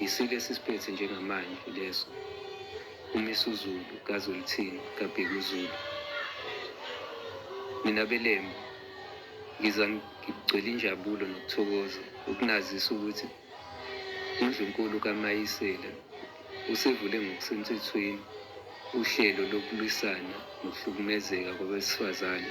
Yisilo esisiphethe njengamanje leso, uMisuzulu kaZwelithini kaBhekuzulu. Mina beLembe ngiza ngigcwele injabulo nokuthokoza ukunazisa ukuthi uNdlunkulu kaMayisela usevule ngokusemthethweni uhlelo lokulwisana nokuhlukumezeka kwabesifazane.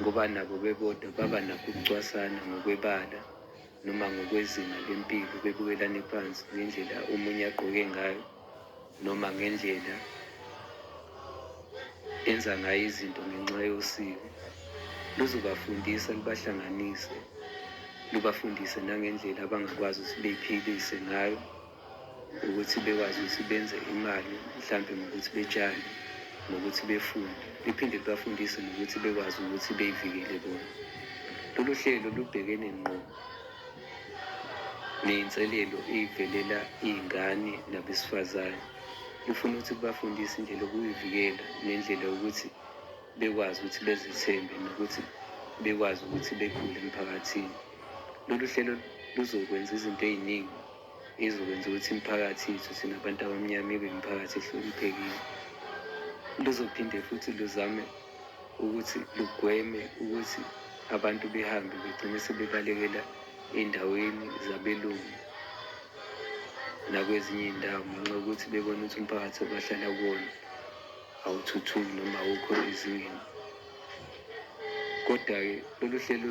ngoba nabo bebodwa baba nakho ukucwasana ngokwebala noma ngokwezinga lempilo bebukelane phansi ngendlela omunye agqoke ngayo noma ngendlela enza ngayo izinto ngenxa yosiko luzobafundisa lubahlanganise lubafundise nangendlela abangakwazi ukuthi beyiphilise ngayo Ukuthi bekwazi ukuthi benze imali mhlampe ngokuthi betshale, ngokuthi befunde. Liphinde libafundise nokuthi bekwazi ukuthi bey'vikele bona. Lolu hlelo lubhekene ngqo ney'nselelo ey'velela iy'ngane nabesifazane. Lufuna ukuthi kubafundise indlela yokuy'vikela nendlela yokuthi bekwazi ukuthi bezethembe nokuthi bekwazi ukuthi bekhule emphakathini. Lolu hlelo luzokwenza izinto ey'ningi. Izokwenza ukuthi imiphakathi yethu thina bantu abamnyama ibe imiphakathi ehloniphekile. Luzophinde futhi luzame ukuthi lugweme ukuthi abantu behambe begcine sebebalekela ey'ndaweni zabelungu nakwezinye iy'ndawo ngenxa yokuthi bebona ukuthi umphakathi obahlala kuwona awuthuthuki noma awukho ezingeni. Kodwa-ke lolu hlelo